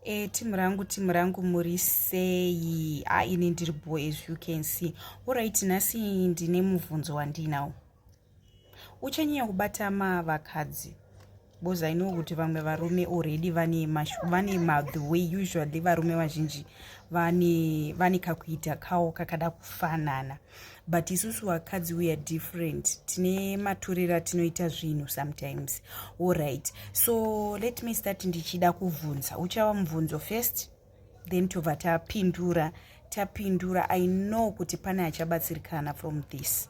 E, timu rangu timu rangu muri sei a ini ndiri bo as you can see orit nhasi ndine mubvunzo wandinawo uchanyanya kubata mavakadzi because i know kuti vamwe varume already vane vane mathe way usually varume vazhinji vane vane kakuita kawo kakada kufanana but isusu vakadzi weare different tine matorero atinoita zvinhu sometimes allright so let me start ndichida kuvhunza uchava mubvunzo first then tobva tapindura tapindura i know kuti pane achabatsirikana from this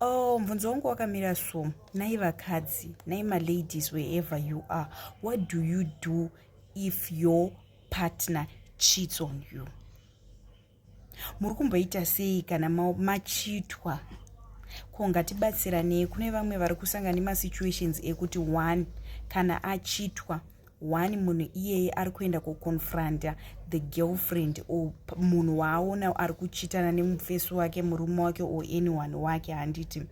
Oh, mvunzo wangu wakamira so nai vakadzi nai maladies wherever you are what do you do if your partner cheats on you muri kumboita sei kana machitwa ko ngatibatsiranei kune vamwe vari kusangana nemasituations ekuti one kana achitwa one munhu iyeye ari kuenda kuconfronta the girlfriend or munhu waaona ari kuchitana nemufesi wake murume wake or anyone wake handiti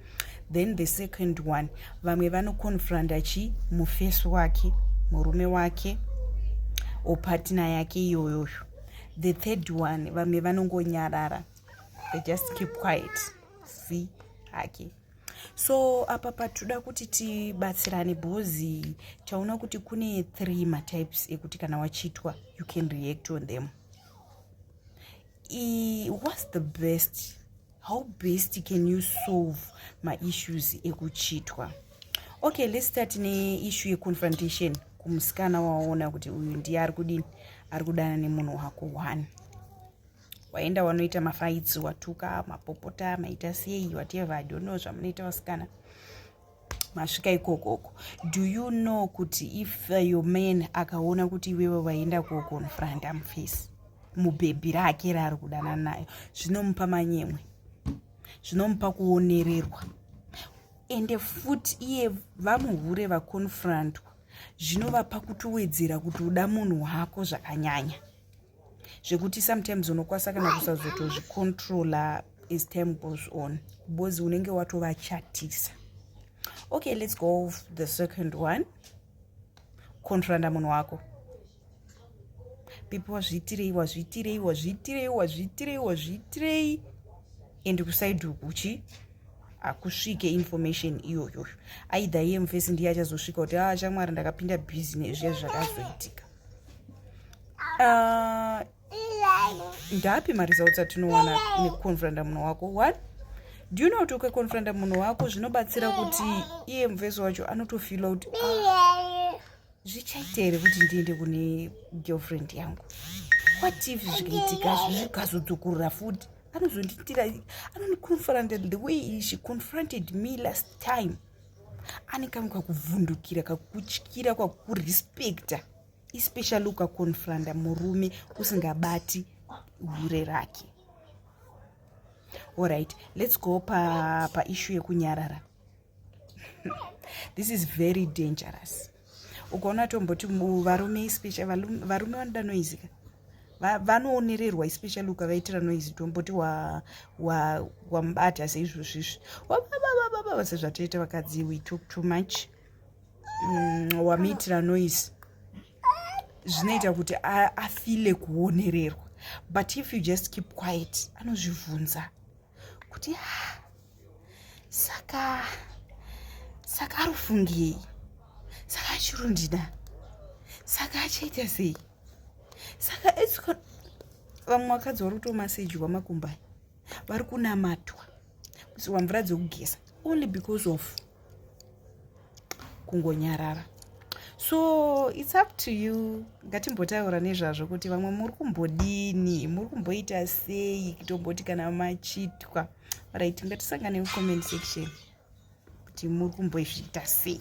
then the second one vamwe vanoconfronta chi mufesi wake murume wake or partner yake iyoyoyo the third one vamwe vanongonyarara they just keep quiet see hake so apa patinoda kuti tibatsirane bhozi taona kuti kune three matypes ekuti kana wachiitwa you can react on them I, whats the best how best can you solve maissues ekuchitwa okay let's start neissue yeconfrontation kumusikana waona kuti uyu ndiye ari kudini ari kudana nemunhu wako one waenda wanoita mafaitsi watuka mapopota maita sei whatever i don't know zvamunoita vasikana masvika ikokoko do you know kuti if uh, your man akaona kuti iwewe vaenda kuokonfront amface mubhebhi rake raari kudana nayo zvinomupa manyemwe zvinomupa kuonererwa ende futi iye vamuhure vakonfrontwa zvinovapa kutowedzera kuti uda munhu wako zvakanyanya zvekuti sometimes unokwasa kana kusazotozvicontrola as time goes on because unenge watovachatisa okay let's go the second one controlanda munhu wako pipi wazviitirei wazviitirei wazviitirei wazviitirei wazviitirei and kusaidi uku uchi hakusvike information iyoyoyo aidha iye mufesi ndiye achazosvika kuti a ah, chamwari ndakapinda business zviya zvakazoitika ah, ndapi mari zautsa tinowana nekukonfranda munhu wako what do you know kuti ukakonfranda munhu wako zvinobatsira kuti iye muvesi wacho anotofila kuti ah, zvichaita here kuti ndiende kune girlfriend yangu what if zvikaitika zvikazodzokorora futi anozonditira anoniconfronted the way she confronted me last time ane kamwe kakuvhundukira kakutyira kwakurespecta especially ukakonfranda murume usingabati hure rake allright let's go paishu pa yekunyarara this is very dangerous ukaona tomboti varume ispecia varume vanoda noise ka vanoonererwa especially ukavaitira noise tomboti wamubata seizvozvizvi wabababababa sezvatoita vakadzi we took too much mm, wamuitira noise zvinoita kuti afile kuonererwa but if you just keep quiet anozvibvunza kuti ah, saka saka ari kufungei saka achirundida saka achaita sei saka etsiko vamwe vakadzi vari kutomasejwa makumba vari kunamatwa kusiwa mvura dzekugeza only because of kungonyarara so its up to you ngatimbotaura nezvazvo kuti vamwe muri kumbodini muri kumboita sei kitomboti kana machitwa right ngatisangane mucomment section kuti muri kumboizviita sei